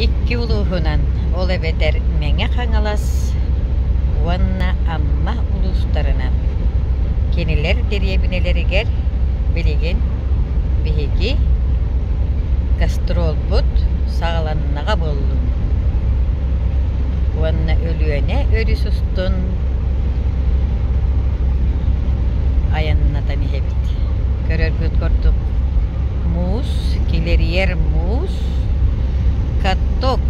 Икки улууһунан, ол эбэтэр Мэҥэ Хаҥалас уонна Амма улуустарынан, кинилэр дэриэбинэлэригэр билигин биһиги гастролбут саҕаланнаҕа буоллуннун уонна Өлүөнэ өрүс устун айаннатан иһэбит. Көрөргүт курдук муус килэрийэр муус, каток,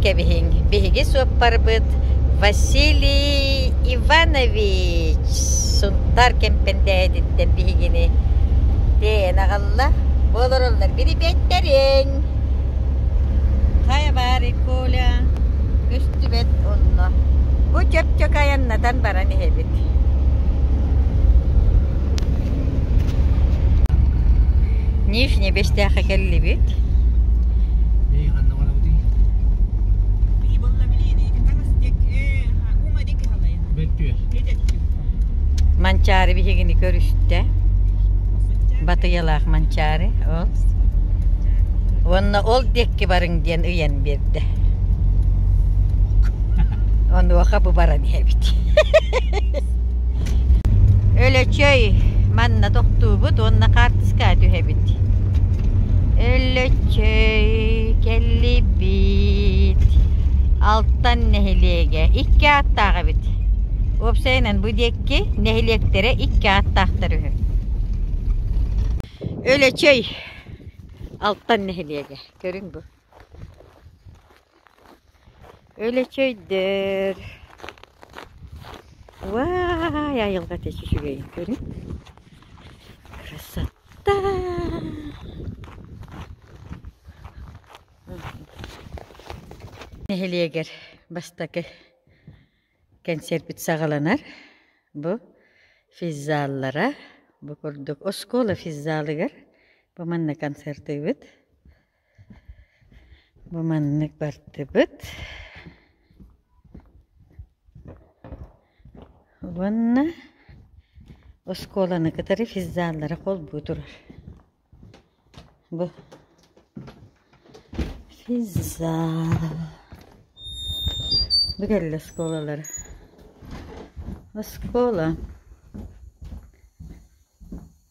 кэбиһиҥ. Биһиги суоппарбыт Василий Иванович Сунтаар Кэмпэндээһититтэн биһигини тэйэн аҕалла. Олороллор бирибэттэриҥ. Хайа баарый, Коля? Көстүбэт онно. Бу чөпчөк айаннатан баран иһэбит. Нижне Бэстээхэ кэллибит Манчаары биһигини көрүстэ Батыйалаах Манчаары ол уонна ол диэкки барыҥ диэн ыйан биэрдэ онуоха бу баран иһэбит Өлөчөй, манна тохтуубут уонна хаартыскаҕа түһэбит. Өлөчөй, кэллийбит. Алтан нэһилиэгэ икки ааттаах эбит. Уопсайынан бу диэки нэһилиэктэрэ икки ааттаахтар үһү. Өлөчөй, Алтан нэһилиэгэ, көрүҥ бу. Өлөчө өйдөр. Вай, айылҕа тэчи үчүгэйин көрүҥ. Красота! Нэһилиэгэр бастакы кэнсиэрбит саҕаланар. Бу физзаллара. Бу курдук оскуола физзалыгар бу манна концертыыбыт. Бу маннык бардыбыт. Уонна оскуоланы кытары физзаллара холбуу турар. Бу физзала. Бу кэлли оскуолалар. Оскуола.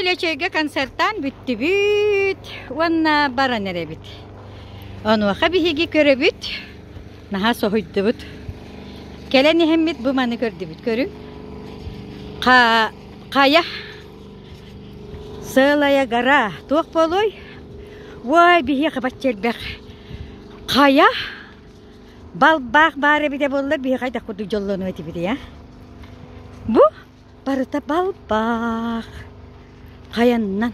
Үлэчэйгэ концертаан бүттүбүт уонна баран эрэбит. Онуоха биһиги көрөбүт, наһаа соһуйдубут. Кэлэн иһэммит бу маны көрдүбүт көрүҥ. Ха, хайа сыалая гора туох буолуой? Ой, биһиэхэ баччэрбэх. Хайа балбаах баар эбитэ буолла биһиэхэ хайдах курдук дьоллонуо этибит а? Бу Барыта балбаах. Хайаннан?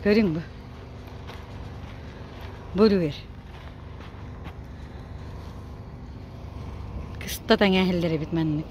Көрүҥ бу. Буруер. Кыста таҥа эһэллэр эбит маннык.